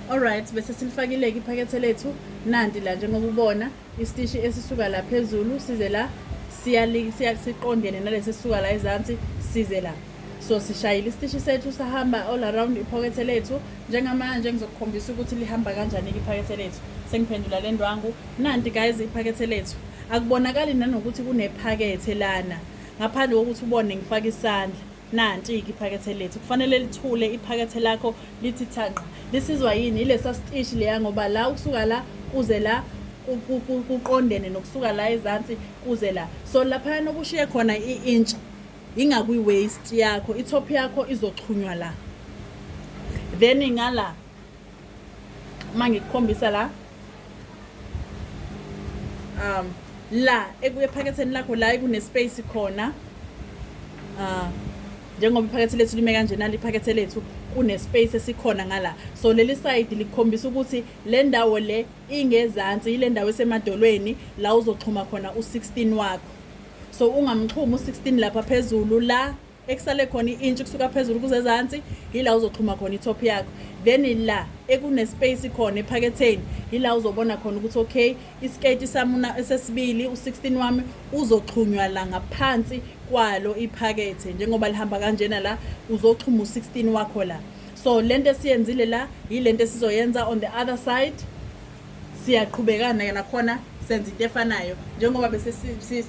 Alright bese silifakile-ke iphakethe lethu nanti la njengoba ubona isitishi esisuka la phezulu size la siqondene nalesi esisuka la ezansi size la so sishayile isitishi sethu sahamba all around iphakethe lethu njengamanje ngizokukhombisa ukuthi lihamba kanjani-ke iphakethe lethu sengiphendula le ndwangu nanti guys iphakethe lethu akubonakali nanokuthi kunephakethe lana ngaphandle kokuthi ubone ngifake isandla Nanti-ke iphakethe lethu kufanele lithule iphakethe lakho lithi thanqa lisizwa yini ilesa sitishi leya ngoba la ukusuka la kuze la kuqondene nokusuka la ezansi kuze la so laphayana okushiye khona i-intsha ingakwi-waist yakho i-top yakho izoxhunywa la then ngala uma ngikukhombisa la um la ekuyephaketheni lakho la kunespace khona uh, njengoba iphakethe lethu lime kanjena liphakethe lethu kunespace esikhona ngala so leli side likhombisa ukuthi le ndawo le ingezansi yile ndawo esemadolweni la uzoxhuma khona u-16 wakho so ungamxhumi u-16 lapha phezulu la ekusale khona i-inch kusuka phezulu kuze ezansi yila uzoxhuma khona i-top yakho then la ekunespace khona ephaketheni yila uzobona khona ukuthi okay iskate samuna esesibili u16 wami uzoxhunywa la ngaphansi kwalo iphakethe njengoba lihamba kanjena la uzoxhuma u16 wakho la so lento esiyenzile la yilento esizoyenza on the other side siyaqhubekana ke nakhona senza into efanayo njengoba bese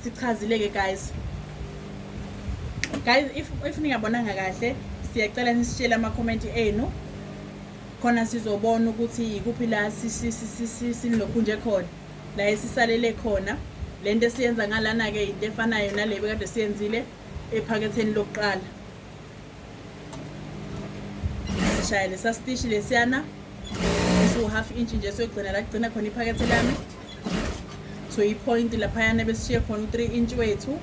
sichazile-ke guys guys if, if ningabonanga kahle siyacela nisitshele amakhomenti enu khona sizobona ukuthi yikuphi la sinilokhu nje khona la esisalele khona le nto esiyenza ngalana-ke yinto efanayo nale bekade siyenzile ephaketheni lokuqala sishaye lesa sitishi lesiyana esiwu-half inch nje soyigcina la kugcina khona iphakethe lami so i-point laphayana besishiye khona u-three inch wethu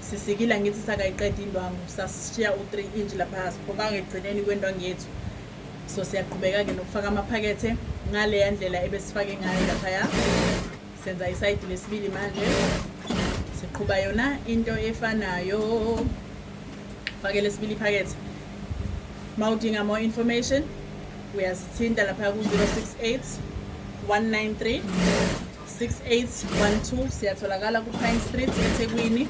sisikile angithi sakayiqeda indwangu sasishiya u-three inch lapha siphokanga ekugcineni kwendwangu yethu so siyaqhubeka-ke nokufaka amaphakethe ngaleya ndlela ebesifake ngayo laphaya senza isayidi lesibili manje siqhuba yona into efanayo fake lesibili iphakethe ma udinga more information uyasithinta lapha ku-068 193 6812 siyatholakala ku-pine street ethekwini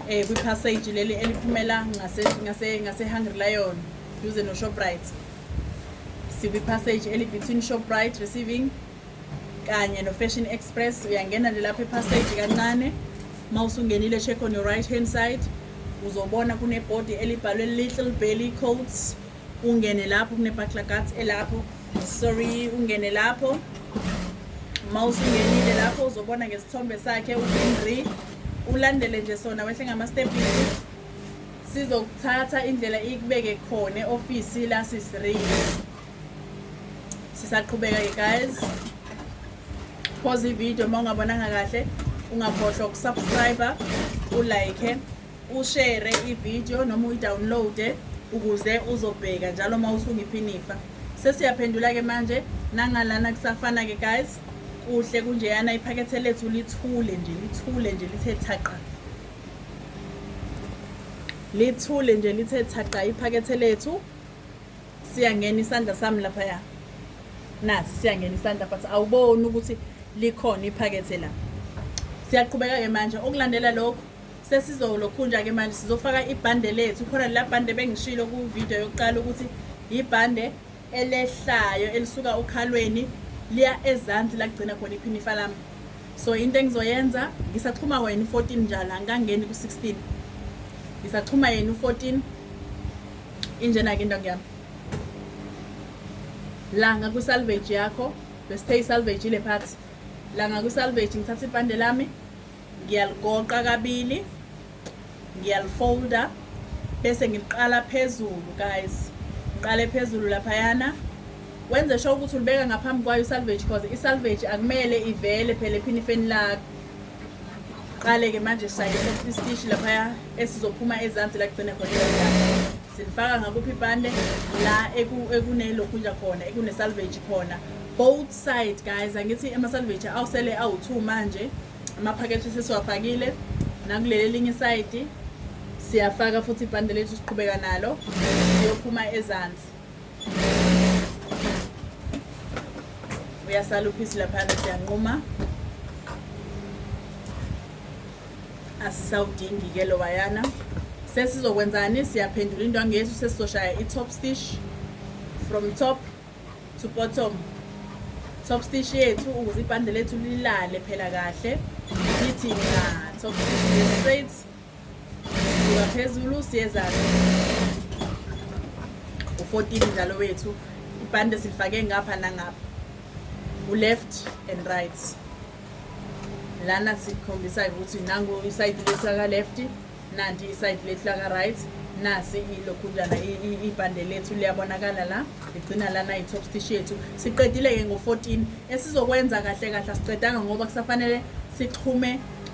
eh kwipassage leli eliphumela ngase ngase ngase Hungry Lion duze no Shoprite sikwipassage eli between Shoprite receiving kanye no-fashion express uyangena nje lapha ephaseji kancane uma usungenile check on your right hand side uzobona kunebhodi elibhalwe little belly coats ungene lapho kunebaklagat elapho sorry ungene lapho uma usungenile lapho uzobona ngesithombe sakhe uhenry ulandele nje sona wehle ngama-stepisi sizokuthatha indlela ikubeke khona e-ofisi lasisirili sisaqhubeka-ke guys phoza ividiyo uma ungabonanga kahle ungakhohlwa ukusubscribe ulike ushere ividiyo noma uyidownloade ukuze uzobheka njalo uma usunga iphinifa sesiyaphendula-ke manje nangalana kusafana-ke guys kuhle kunjeyana iphakethe lethu lithule nje lithule nje lithe thaqa lithule nje lithe thaqa iphakethe lethu siyangena isandla sami laphaya nasi siyangena isandla but awuboni ukuthi likhona iphakethe la siyaqhubeka-ke manje okulandela lokho sesizolokhunja-ke manje sizofaka ibhande lethu khona la bhande bengishilo kuvidiyo yokuqala ukuthi yibhande elehlayo elisuka okhalweni liya ezansi lagcina khona iphinifa lami so into engizoyenza ngisaxhuma wena u-14 njalo angikangeni ku-16 ngisaxhuma yena u-14 injena-ke into ngiyami langa kwisalvage yakho besithe isalvage ile phathi langa kwisalvage ngithatha ibhande lami ngiyaligoqa kabili ngiyalifolda bese ngiliqala phezulu guys ngiqale phezulu laphayana wenze sho ukuthi ulibeka ngaphambi kwayo isalvage cause isalvage akumele ivele phela ephinifeni lakho Qale-ke manje sisaye isitishi laphaya esizophuma ezansi la kugcina khona silifaka ngakuphi ibhande la ekunelokhunja khona ekune-salvage khona both side guys angithi ama-salvage awusele awu-two manje amaphakethe sesiwafakile nakuleli elinye isayidi siyafaka futhi ibhande lethu siqhubeka nalo siyophuma ezansi uyasala uphisi laphana siyanquma asisawudingi-ke lowayana sesizokwenzani siyaphendula into angesu sesizoshaya i-top stitch from top to bottom top stitch yethu ukuze ibhande lethu lilale phela kahle lithi na top stitch straight Sisuka phezulu siyezana. U-14 njalo wethu. Ibhande silifake ngapha nangapha. U-left and right. Lana sikhombisa ukuthi nangu isayidi lesaka left, nanti isayidi lethu laka right. nasi ilokhunjana ibhande lethu liyabonakala la ligcina lana i-top stitch yethu siqedile-ke ngo-14 esizokwenza kahle kahle asiqedanga ngoba kusafanele sixhume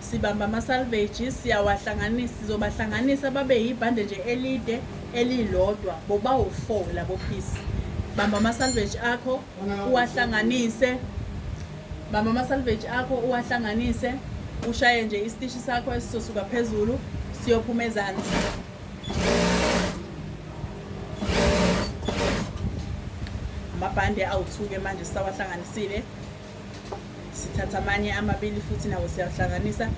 sibamba ama-salvage siyawahlanganisa sizobahlanganisa babe yibhande nje elide elilodwa bobawu-four labo phisi bamba ama-salvage akho uwahlanganise bamba ama-salvage akho uwahlanganise ushaye nje isitishi sakho esizosuka phezulu siyophuma ezansi amabhande awuthuke manje sisawahlanganisile sithatha amanye amabili futhi nawo siyahlanganisa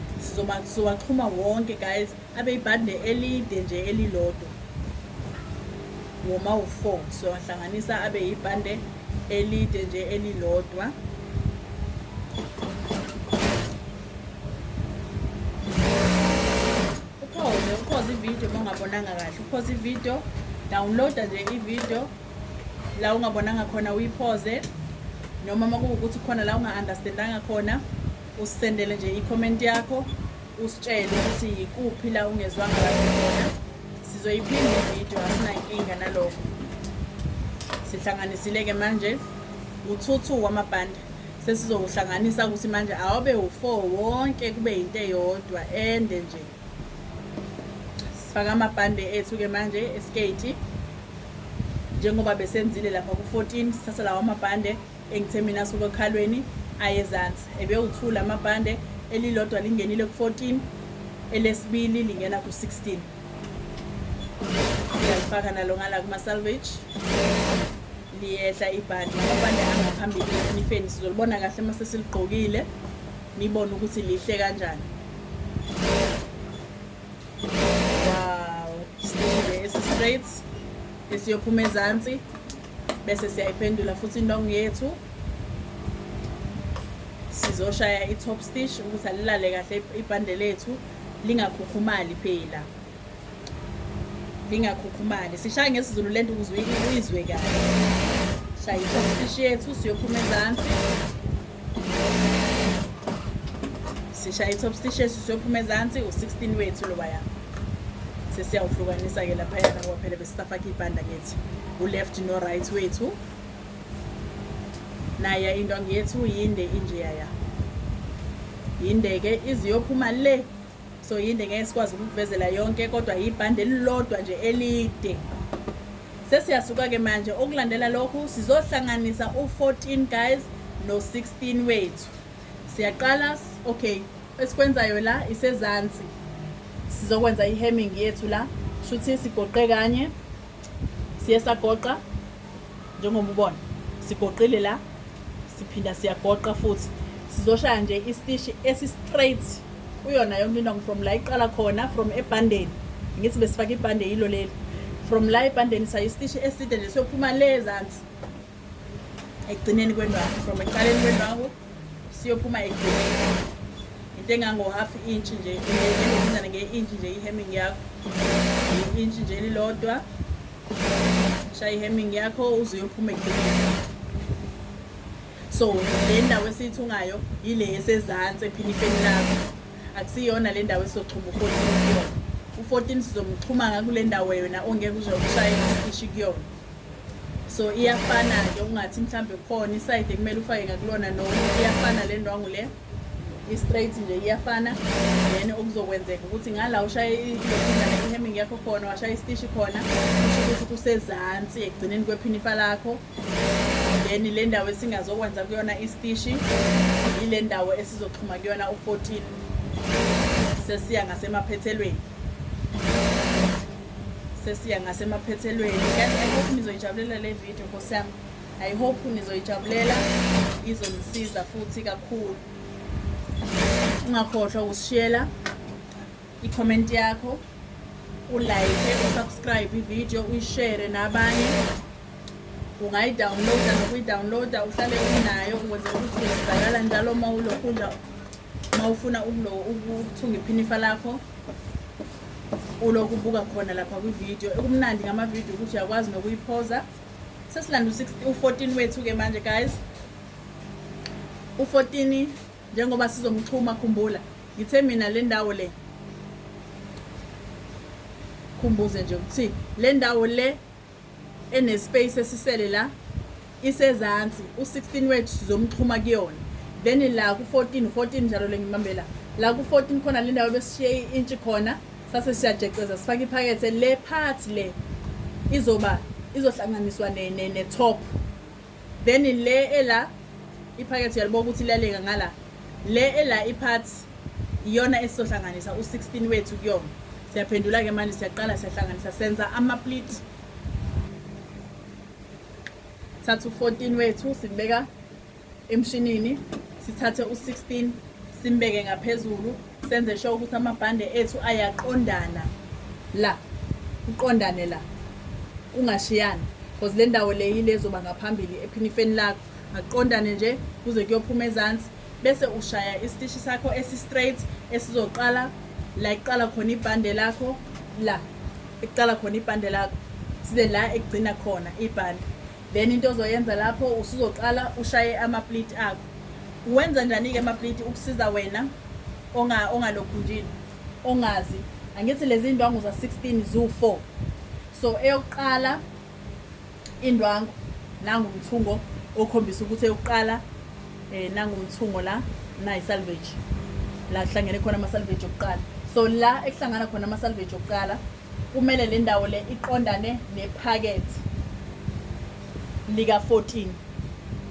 sizowaxhuma wonke guys abe ibhande elide nje elilodwa woma u-four siwahlanganisa abe ibhande elide nje elilodwa uphoze uphoze ividiyo uma ungabonanga kahle uphoze ividiyo downloada nje ividiyo la ungabonanga khona uyiphoze noma uma kuwukuthi khona la unga-understandanga khona usisendele nje i-comment yakho usitshele ukuthi yikuphi la ungezwanga kahle khona sizoyiphinde ividiyo asinankinga nalokho sihlanganisile-ke manje uthuthu wamabhande sesizokuhlanganisa ukuthi manje awube u-four wonke kube yinto eyodwa ende nje sifaka amabhande ethu-ke manje eskate njengoba besenzile lapha ku-14 sithatha lawo amabhande engithe mina suke okhalweni ayezansi ebewuthula amabhande elilodwa lingenile ku-14 elesibili lingena ku-16 siyalifaka nalo ngala kuma-salvage liyehla ibhande amabhande angaphambili enifeni sizolibona kahle uma sesiligqokile nibone ukuthi lihle kanjani wow sibeke esi-straight esiyophuma ezansi bese siyayiphendula futhi indongo yethu sizoshaya i-top stitch ukuthi alilale kahle ibhande lethu lingakhukhumali phela lingakhukhumali sishaya ngesizulu lento ukuze uyizwe kahle shaya i-top stitch yethu siyophuma ezansi sishaye i-top stitches siyophuma ezansi u-16 wethu lobaya sesiyawuhlukanisa-ke laphayana ngoba phela besisafake ibhanda ngethi u-left no-right wethu naye indwangu yethu yinde injeyaya yinde-ke iziyophuma le so yinde ngeke sikwazi ukukuvezela yonke kodwa yibhande elilodwa nje elide sesiyasuka-ke manje okulandela lokhu sizohlanganisa u-14 guys no-16 wethu siyaqala okay esikwenzayo la isezansi sizokwenza i-hemming yethu la shuthi sigoqe kanye siye sagoqa njengoba ubona sigoqile la siphinda siyagoqa futhi sizoshaya nje istishi esi-straight kuyona yonke into from la iqala khona from ebhandeni ngithi besifake ibhande yilo leli from la ebhandeni sayo istishi eside nje siyophuma le ezansi ekugcineni kwendwangu from ekuqaleni kwendwangu siyophuma ekugcineni into engango-half inch nje engenizane nge-inch nje i-hemming yakho i-inch nje elilodwa shaya ihemming yakho uze uyophume ekugcineni so le ndawo esiyithungayo yile esezansi ephilifeni lakho akusiyona le ndawo esizoxhuma ufourteen kuyona u-fourteen sizomxhuma ngakule ndawo yona ongeke uze ukushaye isishi kuyona so iyafana-ke ungathi mhlawumbe kukhona isayide kumele ufake ngakulona noma iyafana le ndwangu le i-straight nje iyafana then okuzokwenzeka ukuthi ngala ushaye i-hemming yakho khona washaya istishi khona kusho ukuthi kusezansi ekugcineni kwephinifa lakho then le ndawo esingazokwenza kuyona istishi yile ndawo esizoxhuma kuyona u-14 sesiya ngasemaphethelweni sesiya ngasemaphethelweni kanti ayikho nizoyijabulela le video nkosiyami I hope nizoyijabulela izonisiza futhi kakhulu. Ungakhohlwa ukusishiyela i-comment yakho, ulike, usubscribe i-video, uyishare nabanye. Ungayidownloada nokuyidownloada uhlale unayo ukuze ukuthi izibakala njalo uma ulokhunja uma ufuna ukuthunga iphinifa lakho ulokubuka khona lapha kwi-video. Ekumnandi ngama-video ukuthi uyakwazi nokuyiphoza. sesilanda u-14 wethu-ke manje guys u-14 njengoba sizomxhuma khumbula ngithe mina le ndawo le khumbuze nje ukuthi le ndawo le enespace esisele la isezansi u-16 wethu sizomxhuma kuyona then la ku-14 14 njalo le ngibambela la ku-14 khona le ndawo besishiye intshi khona sase siyajeceza sifake iphakethe le part le izoba izohlanganiswa ne ne, ne top then le ela iphakethe uyaliboka ukuthi laleka ngala le ela ipart iyona esizohlanganisa u16 wethu kuyona siyaphendula ke manje siyaqala siyahlanganisa senza ama split thatha u14 wethu sibeka emshinini sithathe u-16 simbeke ngaphezulu senze sho ukuthi amabhande ethu ayaqondana la kuqondane la kungashiyani because le ndawo le yile ezoba ngaphambili ephinifeni lakho akuqondane nje kuze kuyophuma ezansi bese ushaya isitishi sakho esi-straight esizoqala la ekuqala khona ibhande lakho la ekuqala khona ibhande lakho size la ekugcina khona ibhande then into ozoyenza lapho usuzoqala ushaye amapliti akho uwenza njani-ke amapliti ukusiza wena ongalokhunjini ongazi angithi lezi ndwangu za-16 zu-4 so eyokuqala indwangu nangumthungo okhombisa ukuthi eyokuqala um eh, nangumthungo la nayi-salvage la kuhlangene khona ama-salvage okuqala so la ekuhlangana khona ama-salvage okuqala Kumele le ndawo le iqondane nephakethe lika-14.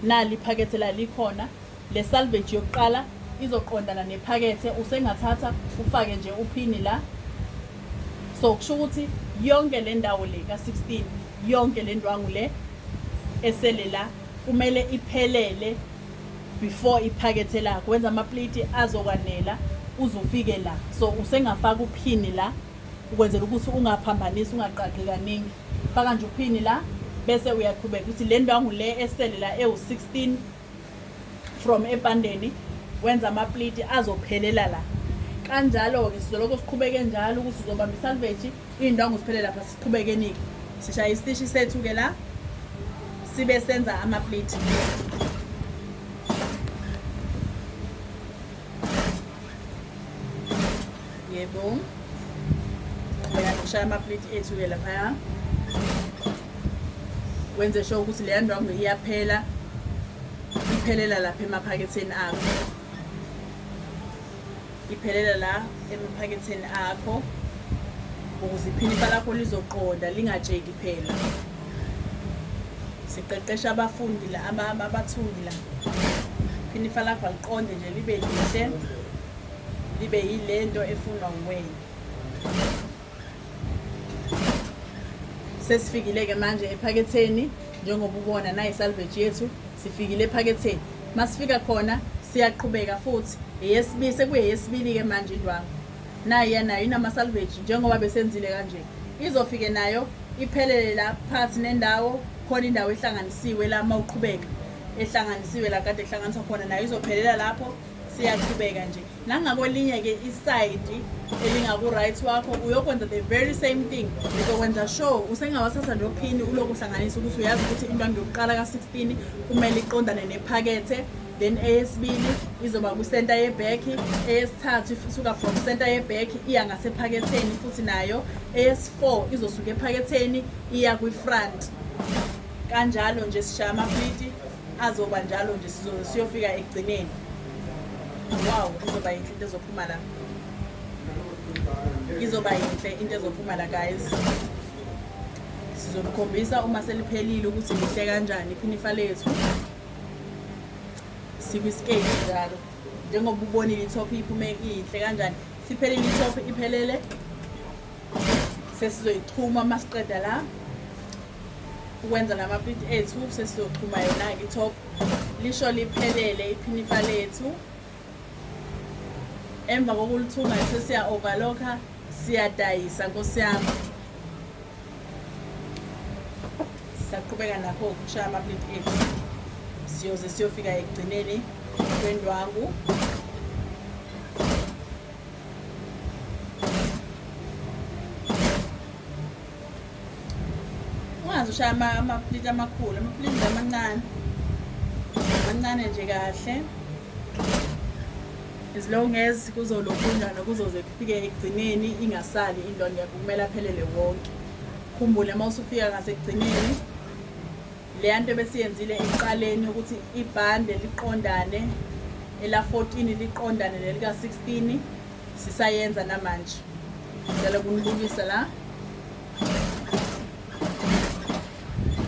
Nali iphakethe la likhona. Le salvage yokuqala izoqondana nephakethe. Usengathatha ufake nje uphini la. So kusho ukuthi yonke le ndawo le ka-16, yonke le ndwangu le esele la kumele iphelele before iphakethe lakho. Wenza amapliti azokwanela uzufike la. So usengafaka uphini la. ukwenzela ukuthi ungaphambanisi ungaqaqi kaningi faka nje uphini la bese uyaqhubeka ukuthi le ndwangu le esele la ewu-16 from ebhandeni wenza amapliti azophelela la kanjalo-ke sizolokho siqhubeke njalo ukuthi uzobamba isalveji iy'ndwangu ziphele lapha siqhubekenike sishaya isitishi sethu-ke la sibe senza amapliti Yebo. Bheka ngishaya amaplate ethu-ke laphaya. Wenze sure ukuthi leya ndwangu iyaphela. Iphelela lapha emaphaketheni akho. Iphelela la emaphaketheni akho ukuze iphinifa lakho lizoqonda lingatsheki phela. Siqeqesha abafundi la abathundi la. Phinifa lakho aliqonde nje libe lihle. libe yile nto efunwa nguwena sesifikile-ke manje ephaketheni njengoba ubona nayi salvage yethu sifikile ephaketheni masifika khona siyaqhubeka futhi eyesibili sekuyeyesibili-ke manje indwangu nayi yanayo inama-salvage njengoba besenzile kanje izofike nayo iphelele la phakathi nendawo khona indawo ehlanganisiwe la uma uqhubeka ehlanganisiwe la kade ehlanganiswa khona nayo izophelela lapho siyaqhubeka nje nangakolinye ke isayidi elingaku-right wakho uyokwenza the very same thing uzokwenza sure usengawathatha nophini uloku uhlanganisa ukuthi uyazi ukuthi intwanto yokuqala ka-16 kumele iqondane nephakethe then eyesibili izoba kwisenta yebhekhi eyesithathu isuka from senta yebhekhi iya ngasephaketheni futhi nayo eyesi-four izosuka ephaketheni iya kwi-front kanjalo nje sishaya amapliti azoba njalo nje sizoze siyofika ekugcineni wow izoba yinhle into ezophuma la izoba yinhle into ezophuma la guys sizonikhombisa uma seliphelile ukuthi lihle kanjani iphinifa lethu sikwiskate njalo njengoba ubonile itop iphume inhle kanjani siphelile itop iphelele sesizoyichuma uma siqeda la ukwenza namapliti ethu sesizochuma yona-ke itop lisho liphelele iphinifa lethu emva kokulithunga sesiya-overlocka siyadayisa nkosi yami sisaqhubeka nakho ukushaya amapliti ethu siyoze siyofika ekugcineni kwendwangu ungazi ushaya amapliti amakhulu amapliti amancane amancane nje kahle as long as kuzolokhunjana kuzoze kufike ekugcineni ingasali indonda kumele aphelele wonke khumbule uma usufika ngasekugcineni Leya nto ebesiyenzile ekuqaleni ukuthi ibhande liqondane ela-14 liqondane nelika-16 sisayenza namanje ngicela kunibukisa la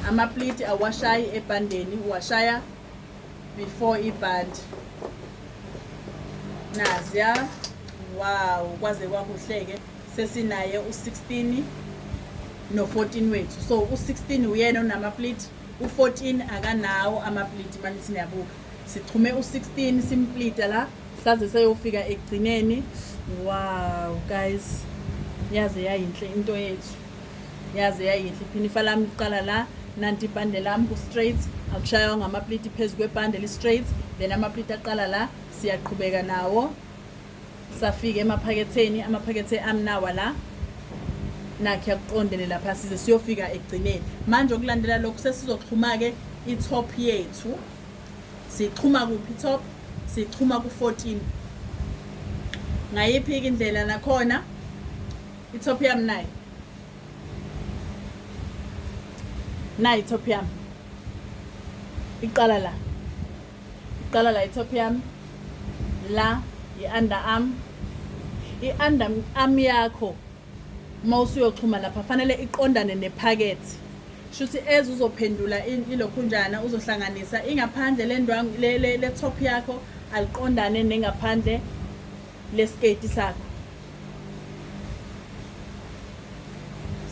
amapliti awashayi ebhandeni uwashaya before ibhandi naziya wow kwaze kwakuhleke sesinaye u-16 no-14 wethu so u-16 uyena onamapliti u-14 akanawo amapliti manje siniyabuka sixhume u-16 simplita la saze seyofika ekugcineni wow guys yaze yayinhle into yethu yaze yayinhle iphinifa lami liqala la nanti ibhande lami ku-straight akushaywa ngamapliti phezu kwebhande li-straight then amapliti aqala la siyaqhubeka nawo safika emaphaketheni amaphakethe amnawa la nakhe yakuqondele lapha size siyofika ekugcineni manje okulandela lokhu sesizoxhuma-ke i-top yethu siyixhuma kuphi i-top siyixhuma ku-14 ngayiphi-ke indlela nakhona i-top yami nayi nayi i-top yami iqala la Iqala la itop yami la i-under arm i-under arm yakho uma usuyoxhuma lapha fanele iqondane nephakethe shuthi eze uzophendula ilokhunjana uzohlanganisa ingaphandle lendwangu le top yakho aliqondane nengaphandle lesketi sakho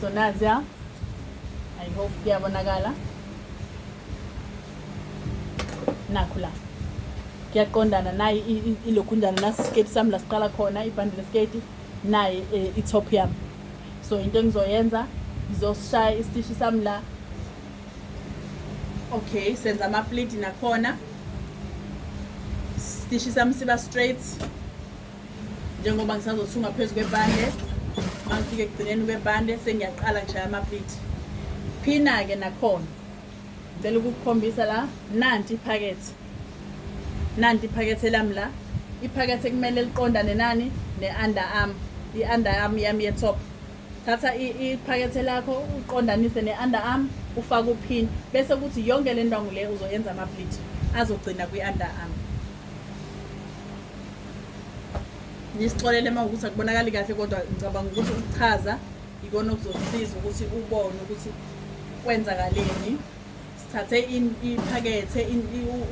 so nazi ya i hope kuyabonakala nakho la kuyaqondana naye ilokhunjana nasi isiketi sami la siqala khona ibhandi lesiketi naye eh, i-top yami so into engizoyenza ngizosishaya isitishi sami la okay senza amapliti nakhona Stishi sami siba straight njengoba ngisazothunga phezu kwebande mangifike ekugcineni kwebande sengiyaqala ngishaya amapiti phina-ke nakhona ngicela ukukukhombisa la nanti iphakethe nanti iphakethe lami la iphakethe kumele liqondane nani ne-under arm i-under arm yami ye-top thatha iphakethe lakho uqondanise ne-underarm ufake uphini bese kuthi yonke le ndwangu le uzoyenza ama-bleed azogcina kwi-underarm nisixolele uma ukuthi akubonakali kahle kodwa ngicabanga ukuthi ukuchaza ikona okuzokusiza ukuthi ubone ukuthi kwenzakaleni sithathe iphakethe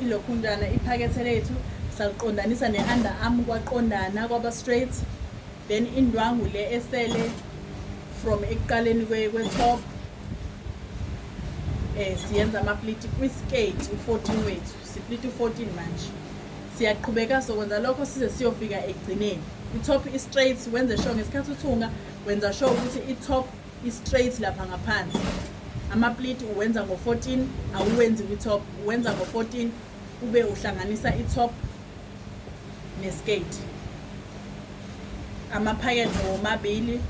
ilokhunjana iphakethe lethu saliqondanisa ne-underarm kwaqondana kwaba-straight then indwangu le esele from ekuqaleni kwe-top eh siyenza amapliti kwiskate u-14 wethu sipliti u-14 manje siyaqhubeka sokwenza lokho size siyofika ekugcineni i-top i-straight wenze sure ngesikhathi uthunga wenza sure ukuthi i-top i-straight lapha ngaphansi amapliti uwenza ngo-14 awuwenzi kwi-top uwenza ngo-14 ube uhlanganisa i-top ngesiketi amaphakethe womabili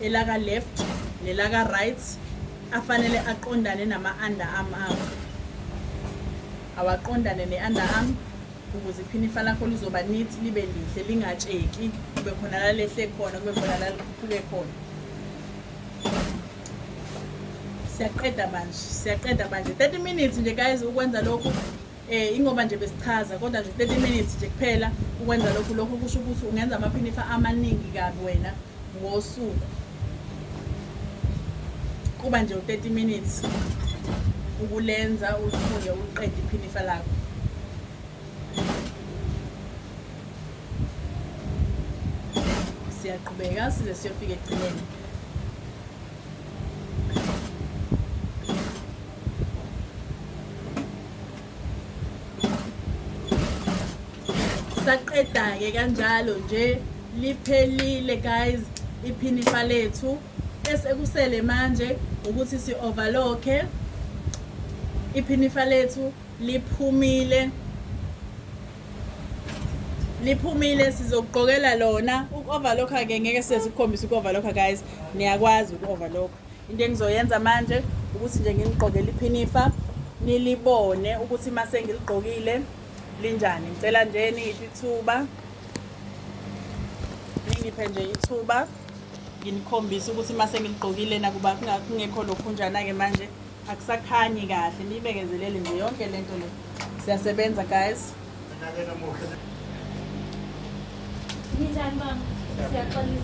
elaka left nelaka right afanele aqondane nama-under arm akho awaqondane ne-under arm ukuze iphinifa lakho lizoba neat libe lihle lingatsheki kube khona lalehle khona kube khona lalikhuphuke khona siyaqeda manje siyaqeda manje 30 minutes nje guys ukwenza lokhu eh ingoba nje besichaza kodwa nje 30 minutes nje kuphela ukwenza lokhu lokhu kusho ukuthi ungenza amaphinifa amaningi kabi wena ngosuku kuba nje u-30 minutes ukulenza ulifunde uliqede iphinifa lakho siyaqhubeka size siyofika ekugcineni saqeda-ke kanjalo nje liphelile guys iphinifa lethu esekusele manje ukuthi si-overlocke iphinifa lethu liphumile liphumile sizokugqokela lona uku-overlocka-ke ngeke size sikukhombise uku-overlocka guys niyakwazi uku-overlocka Into engizoyenza manje ukuthi nje nginiqokele iphinifa nilibone ukuthi uma sengiligqokile linjani ngicela nje niyiphi ithuba ningiphe nje ithuba nginikhombise ukuthi uma sengiligqokile nakuba kungekho lokhunjana-ke manje akusakhanyi kahle niyibekezelele nje yonke le nto le siyasebenza guys ninjani baba siyaxolisa